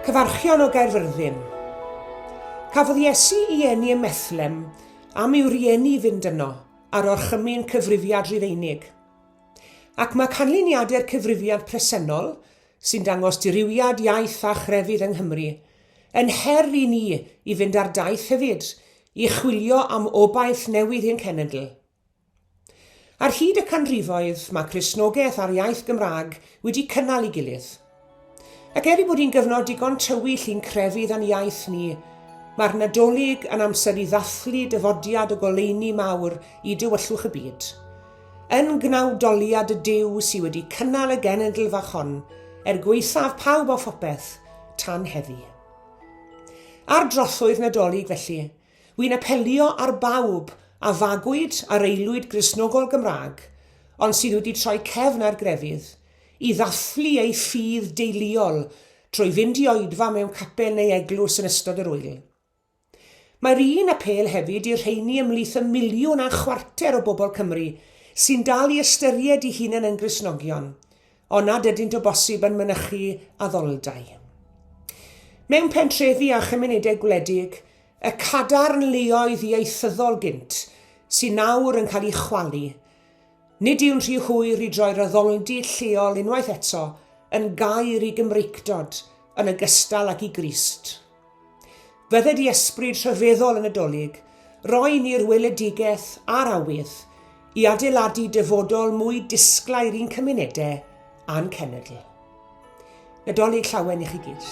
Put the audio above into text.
Cyfarchion o Gaerfyrddin. Cafodd Iesu i eni ym Methlem am i'w rieni fynd yno ar orchymyn Cyfrifiad Rufeinig. Ac mae canlyniadau'r Cyfrifiad presennol sy'n dangos dirywiad iaith a chrefydd yng Nghymru. Yn her i ni i fynd ar daith hefyd i chwilio am obaith newydd i'n cenedl. Ar hyd y canrifoedd, mae Cristnogaeth a'r iaith Gymraeg wedi cynnal ei gilydd. Ac er ei bod hi'n gyfnod digon tywyll i'n crefydd a'n iaith ni, mae'r Nadolig yn amser i ddathlu dyfodiad y goleuni mawr i dywyllwch y byd. Yn gnawdoliad y Duw sy wedi cynnal y genedl fach hon, er gwaethaf pawb a phopeth, tan heddi. Ar drothwy'r Nadolig felly, wy'n apelio ar bawb a fagwyd ar aelwyd Gristnogol Gymraeg, ond sydd wedi troi cefn ar grefydd, i ddathlu eu ffydd deuluol trwy fynd i oedfa mewn capel neu eglwys yn ystod yr ŵyl. Mae'r un apêl hefyd i'r rheini ymhlith y miliwn a chwarter o bobl Cymru sy'n dal i ystyried i hunan yn Gristnogion, ond nad ydynt o bosib yn mynychu addoldai. Mewn pentrefi a chymunedau gwledig, y cadarn leoedd ieithyddol gynt sy'n nawr yn cael ei chwalu, Nid yw'n rhy hwyr i droi'r addoldy lleol unwaith eto yn gaer i Gymreictod yn ogystal ag i Grist. Fydde di ysbryd rhyfeddol yn y Dolig roi ni'r weledigaeth a'r awydd i adeiladu dyfodol mwy disglair i'n cymunedau a'n cenedl. Nadolig llawen i chi gyd.